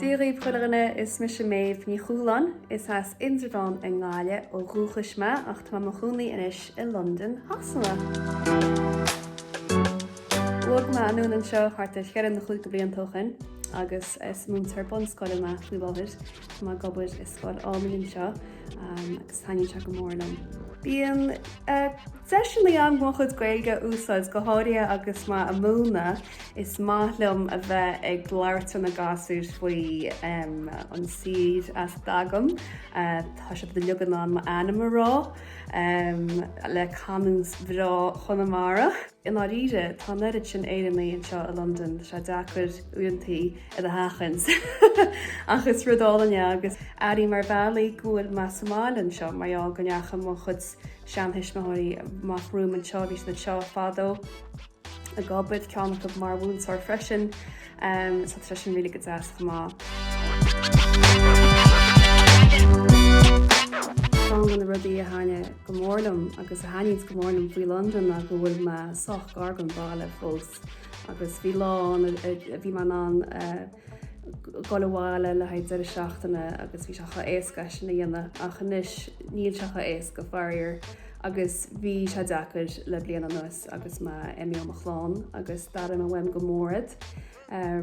Dia dhaoibh chuile dhuine, is mise Méabh Ní Chualáin. Is as Indreabhán i nGaillimh ó dhúchas mé ach tá mé i mo chónaí anois i Londain Shasana. Bhog mé anonn anseo thart ar cheithre nó chúig de bhlianta ó shin agus is múinteoir bunscoile mé faoi láthair. Tá mé ag obair i scoil álainn anseo agus taitníonn sé go mór liom. Bíonn Deiseanna agam mo chuid Gaeilge a úsáid, go háirithe agus mé ag múineadh. Is maith liom a bheith ag labhairt le na gasúir faoi an tír as a dtagaim, tá siad uilig in ann m'ainm a rá, le canúint bhreá Chonamara. I ndáiríre, tá an oiread sin Éireannaí anseo i Londain, tá sé deacair uaireantaí iad a sheachaint. Ach is rud álainn é agus airím ar bhealaí go bhfuil mé sa mbaile anseo, mar gheall go ndeachaigh mo chuid seanthuismitheoirí amach romham anseo, bhí siad anseo fadó ag obair, ceann acu mar mhúinteoir freisin, so tá sé sin really go deas chomh maith. Ceann de na rudaí a thaitin go mór liom agus a thaitníonns go mór liom faoi Londain ná go bhfuil mé sách gar don bhaile fós. Agus bhí lá ann a bhí mé in ann dul abhaile le haghaidh deireadh seachtaine agus bhí sé chomh éasca é sin a dhéanamh ach anois níl sé chomh éasca faraor agus bhí sé deacair le bliain anuas agus mé imithe ó mo chlann agus d'airigh mé uaim go mór iad.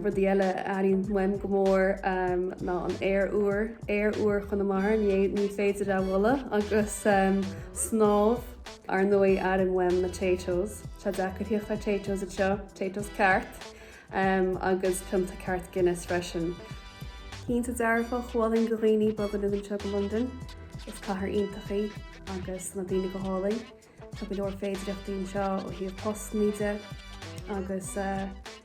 Rudaí eile a airím uaim go mór ná an aer úr, aer úr Chonamara, ní féidir é a bhualadh, agus snámh. Ar ndóigh, airím uaim na Taytos. Tá sé deacair tíocht ar Taytos anseo, Taytos ceart, em, agus pionta ceart Guinness freisin. Cinnte, dearfa, chomhairleoinn go dhaoine bogadh anonn anseo go Londain, is cathair iontach í agus tá na daoine go hálainn, tá go leor féidireachtaí anseo ó thaobh postannaí de agus, eh,